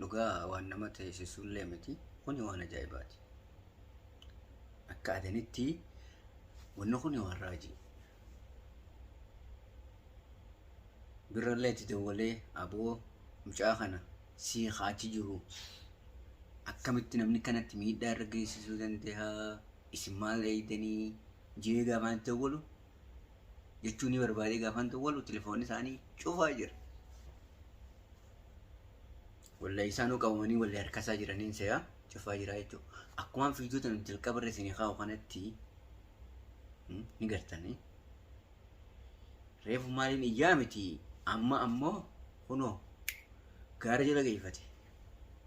Dhugaa waan nama teessisuullee miti. Kuni waan ajaa'ibaati. Akka adanitti wanni kuni waan raajii. Birrallee itti dawwalee aboo mucaa kana sii kaachi jiru akkamitti namni kanatti miidhaa irra geessisuu danda'a isin maal eeydanii jee gaafaan itti dawwalu jechuun ni barbaadee gaafaan dawwalu telefoonni isaanii cufaa jira. Wallahi isaanuu qabamanii walli harkasaa jiraniin seeyaa cufaa jiraa jechuudha. Akkumaan fiidiyoo tana jalqaba irra isinii kaa'u kanatti ni gartanii. Reefu maaliin iyyaa miti amma ammoo kunoo gaara jala geeffate.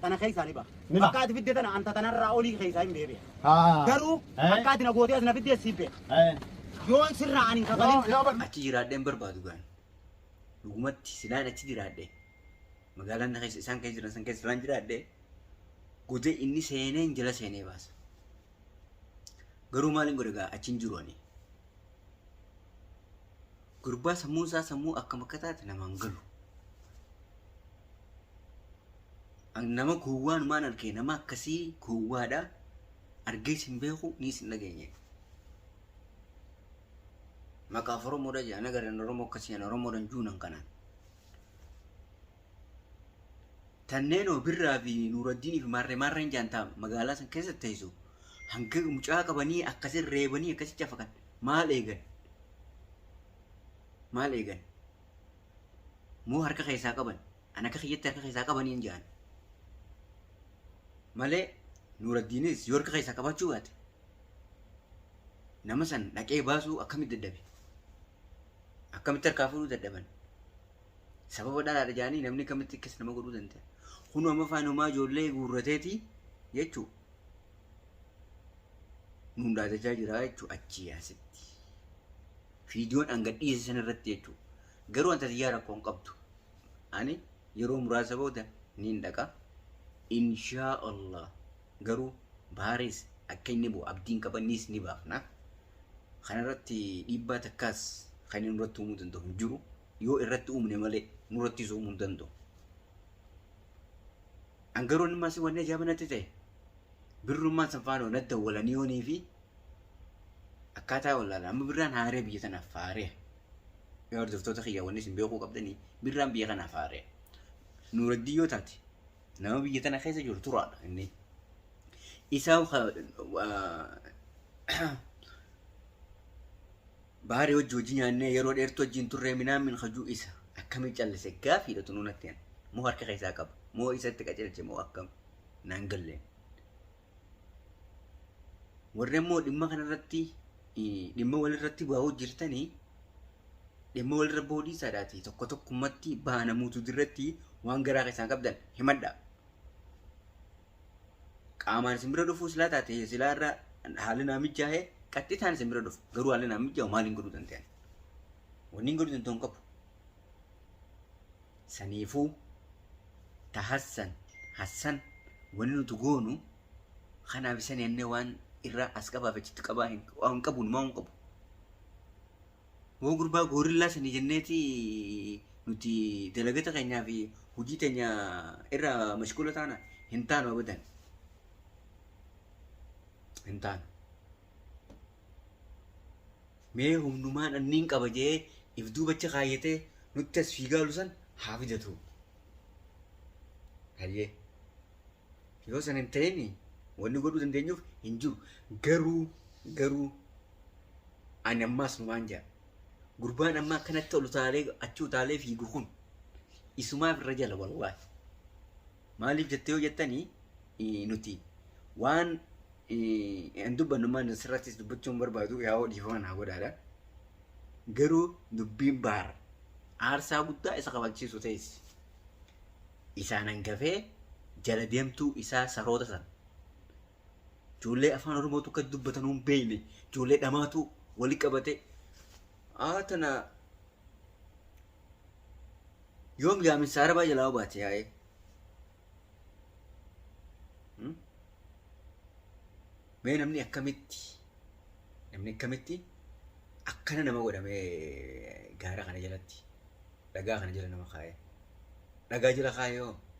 tana keessaa ni baha. Ni baha. Akka ati fidde tana anta tanarraa olii keessaa hin beebi'a. Haa. Garuu Eh. akka ati na gootee as na fiddee si beeka. Eh. Yoon sirraa ani hin Yoo kafalin. yoo bakka. achi jiraadhee hin barbaadu gaani. Dhugumatti silaan achi jiraadhee magaalaan na keessa isaan keessa jiran san keessa silaan jiraadhee godee inni seenee hin jala seenee baasa. Garuu maaliin godhe gaa achi hin jiru ani. Gurbaa sammuun isaa sammuu akkam akka taate namaan galu. Nama gowwaan maan argee nama akkasii gowwaadha. Argees hin beeku niis hin dhageenye. Maqaaf Oromoodha jedhan agarran Oromoo akkasii jedhan Oromoodhan juunan kanaan. Tanneenoo Birraa fi Nuuraddiinii fi Maarree Maarreen jaantaa magaalaa san keessa teessu hanga mucaa qabanii akkasin reebanii akkasi cafakan maal eegan? Maal eegan? Moo harka keessaa qaban? An akka kiyyatti harka keessaa qabaniin jaan. Malee Nuuraddiinis yoo harka keessaa qabaachuu baate nama san dhaqee baasuu akkamitti dadhabe? Akkamitti harkaa fuudhuu dadhaban? Sababa dhalaadha jaanii namni kamitti akkas nama godhuu danda'a. Kun amma faan homaa ijoollee guurrateeti jechuu. Nuun dhaadachaa jira jechuu achii asitti. Viidiyoon hanga dhiyeesse sana irratti jechuu. Garuu anta tiyyaa rakkoo hin qabdu. Ani yeroo muraasa booda niin dhaqa. Inshaa Allah garuu baarees akka inni bu'u abdiin qabanniis ni baafna. Kana irratti dhiibbaa takkaas kan inni nurratti uumuu danda'u hin jiru. Yoo irratti uumne malee nurrattis uumuu hin danda'u. An garuu inni maasii waan ajaa'iba natti ta'e birrummaan san faana na dawwalanii yoonii fi akkaataa wallaala amma birraan haaree biyya tanaaf faaree yaa hordoftoota kiyya wanni isin beekuu qabdanii birraan biyya kanaaf haaree nuuraddii yoo taate Nama biyya tana keessa jiru turaadha inni. Isa baari hojii hojii nyaannee yeroo dheertuu wajjin turree minaan min hajuu isa akkamii callise gaafiidha tunuu natti moo harka keessaa qaba moo isatti qacelche moo akkam naan galleen. warri ammoo dhimma kanarratti dhimma walirratti baa'uu jirtanii dhimma walirra baa'uu dhiisaadhaati tokko tokkummatti baanamuutu dirratti waan garaa keessaan qabdan himadha. Qaamaan isin bira dhufuu silaa taate silaa irra haalli naa mijaa'e qaxxitaan isin bira dhufu garuu haalli naa mijaa'u maaliin godhuu danda'an? Wanni hin godhu danda'u hin qabu. Saniifuu, tahassan, hassan, wanni nuti goonu, kanaaf isani annee waan irraa as qabaa fi achitti qabaa hin, waa hin qabu, numaa hin qabu. Hoo gurbaa goorillaa sanii jenneeti nuti dalagata keenyaa fi hujii teenya irraa mashgula taana hin taanu abadan. Hin taanu. Mee humnumaan an niin qaba je'ee if duubacha kaayyatee nutti as fiigaalu san haa fidatuu. Hayyee. Yoo san hin ta'ini wanni godhuu dandeenyuuf hin jiru. Garuu garuu ani ammaas numaan ja'a. Gurbaan amma akkanatti ol utaalee achi utaalee fiigu kun isumaaf irra jala wallaahi. Maaliif jettee yoo jettani nuti waan hin dubbannu maal asirrattis dubbachuun barbaadu yaa'oo dhiifama naa godhaadha. Garuu dubbiin baar aarsaa guddaa isa kabalchiisu ta'es isaan hangafee jala deemtuu isaa saroota sana. Ijoollee afaan Oromootu akka dubbatanuu hin beekne ijoollee dhamaatu wali qabate haa tana Yoom yaaminsa arabaa jalaa obaate yaa'ee. Hmm? Mee namni akkamitti namni akkamitti akkana nama godhamee gaara kana jalatti dhagaa kana jala nama kaa'ee dhagaa jala kaa'ee hoo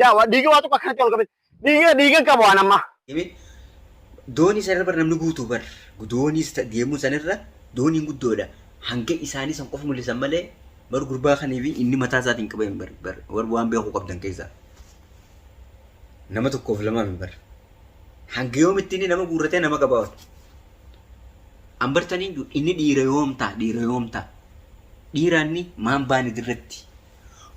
Daa waa dhiiga waa tokko akkanatti ol qabee. Dhiiga dhiiga qaba waan ammaa. Himi doonii sana irra bar namni guutuu bar dooniis ta- deemuun sana irra dooniin guddoodha hanga isaanii san qofa mul'isan malee bar gurbaa kanii fi inni mataa isaatiin qaba hin bar bar bar waan beekuu qabdan keessaa nama tokkoof lamaa hin bar hanga yoomitti inni nama guurratee nama qabaa ol an bartanii inni dhiira yoomtaa dhiira yoomtaa dhiiraanni maan baani dirratti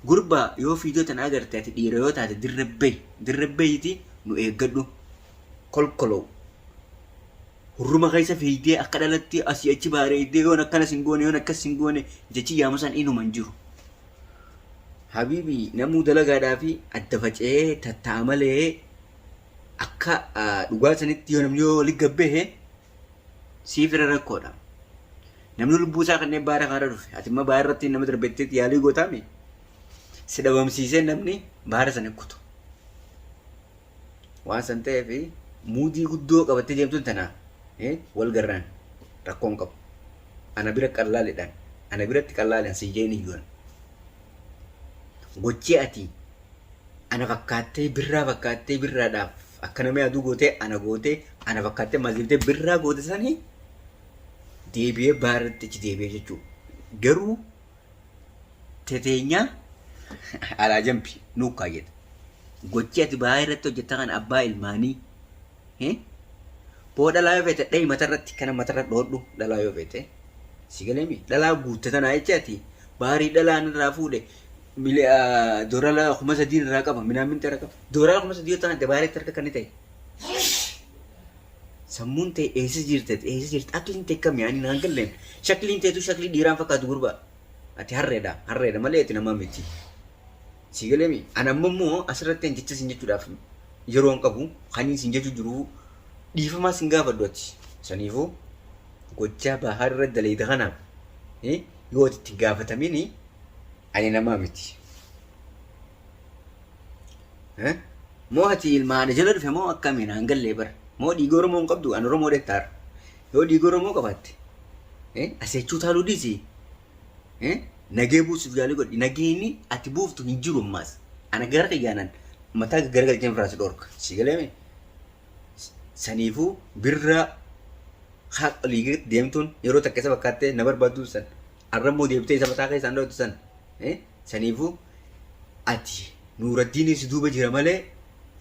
Gurba yoo fiidoo tana agarte ati dhiira yoo taate dirre bahi dirre bahiti nu eeggadhu kolkolow hurruma keessa fiigdee akka dhalatti asii achi baareeydee yoon akkana sin goone yoon akkas sin goone jechi yaamusan inuma hin jiru. Habiibi namuu dalagaadhaa fi adda faca'ee tatta'a malee akka dhugaa sanitti yoo namni yoo wali gabbehe siif irra rakkoodha. Namni lubbuu isaa kanneen baara kaara dhufe ati immoo baara irratti nama darbettee yaalii gootaame si dhabamsiisee namni baara sana kutu. Waan san ta'eef muudii guddoo qabattee deemtuun tana wal garraan rakkoon qabu. Ana bira qallaalidhaan ana biratti qallaalidhaan siin jeen iyyuun. Gochii ati ana fakkaattee birraa fakkaattee birraadhaaf Akka namii aduu gootee ana gootee ana fakkaattee maziibtee birraa goote sanii deebi'ee baarratti achi deebi'ee jechuu garuu teteenyaa alaa jambi nuu kaayyata gochii ati baay'ee irratti hojjetta kan abbaa ilmaanii eh? boo dhalaa yoo feete dhahi matarratti kana matarra dhoodhu dhalaa yoo feete si galeemi dhalaa guutte tanaa jecha ati baarii dhalaan irraa fuudhe mili dorala kuma sadii irraa qaba minaamin tara qaba dorala kuma sadii yoo ta'an dabaalee tarka kan ta'e sammuun ta'e eessa jirta eessa jirta akliin ta'e kam yaani naan galleen shakliin ta'etu shaklii dhiiraan fakkaatu gurba ati harreedha harreedha malee ati namaa miti sii galeemi ana amma immoo asirratti jecha sin jechuudhaaf yeroo hin qabu kaniin sin jechuu jiru dhiifamaa sin gaafadhu ati saniifuu gochaa bahaar irra dalayde kanaaf yoo ati itti gaafatamin ani namaa miti. Moo ati ilma haadha jala dhufe moo akkamiin aan gallee bara. Moo dhiiga Oromoo hin qabdu an Oromoo dettaara. Yoo dhiiga Oromoo qabaatte aseechuu taaluu dhiisi. Nagee buusuuf yaalii godhi. Nageenyi ati buuftu hin jiru ammaas. Ana gara kiyyaanan mataa garagalcheen irraa si dhorka. Si galee mee? saniifuu birraa haa olii gaditti deemtuun yeroo takka isa fakkaattee na barbaaduu san arrammoo deebitee isa mataa keessaan dhootu san eh, saniifuu ati nuuraddiinii si duuba jira malee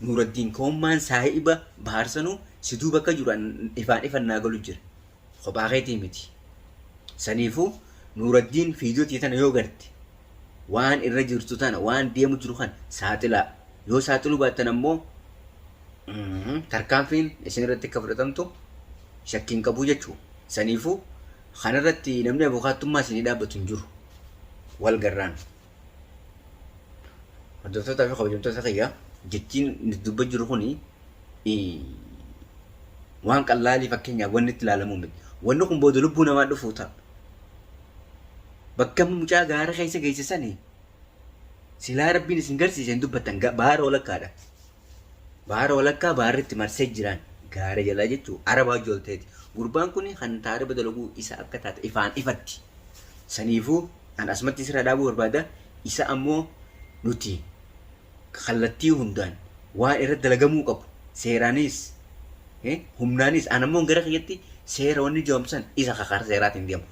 nuuraddiin koommaan saahiba bahaarsanuu si duuba akka jiru an ifaan ifan naa galu jira Kophaa keetii miti. Saniifuu Nuuraddiin viidiyoo tiyya tana yoo garte waan irra jirtu tana waan deemu jiru kana saaxilaa. Yoo saaxiluu baattan ammoo tarkaanfiin isin irratti akka fudhatamtu shakkii hin qabu jechuudha. Saniifuu kanarratti namni abukaattummaa isinii dhaabbatu hin jiru. Wal garraan. Hordoftoota fi kabajamtoota kiyya jechiin nuti dubba jiru kun waan qallaalii fakkeenyaaf wanni itti ilaalamu miti. Wanni kun booda lubbuu namaa dhufuu ta'a. Bakka mucaa gaara keessa geessisanii silaa rabbiin isin garsiise hin dubbattan baara walakkaadha. Baara walakkaa baarri itti marsee jiraan gaara jalaa jechuun arabaa hojii ol ta'eeti. Gurbaan kun kan taariba dalaguu isa akka taate ifaan ifatti. Saniifuu an asumatti isirraa dhaabuu barbaada. Isa ammoo nuti kallattii hundaan waan irratti dalagamuu qabu seeraanis eh, humnaanis an ammoo gara kiyyatti seera wanni jedhamu san isa ka karaa seeraatiin deemu.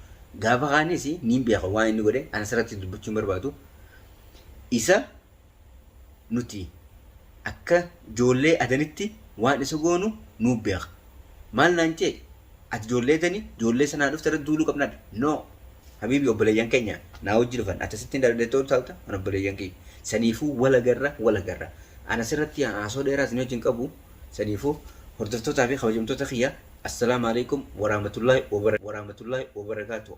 Gaafa kaanis niin beeka waan inni godhe an asirratti dubbachuu hin barbaadu. Isa Nuti akka joollee Adanitti waan isa goonu nuu beeka. Maal naan je'e? Ati joollee Adani, joollee sanaa dhufte irratti duuluu qabnaa dha. No! Habiibi obboleeyyan keenya naa wajji dhufan. Ati asitti hin dhaladde ta'uu taata, an obboleeyyan kiyya. Saniifuu wal agarra, wal agarra. An as irratti haasoo dheeraa isinii wajji hin qabu. Saniifuu hordoftootaa fi kabajamtoota kiyya, Assalaam Aleeykum Waraamatullaahi Wabarakaatuh.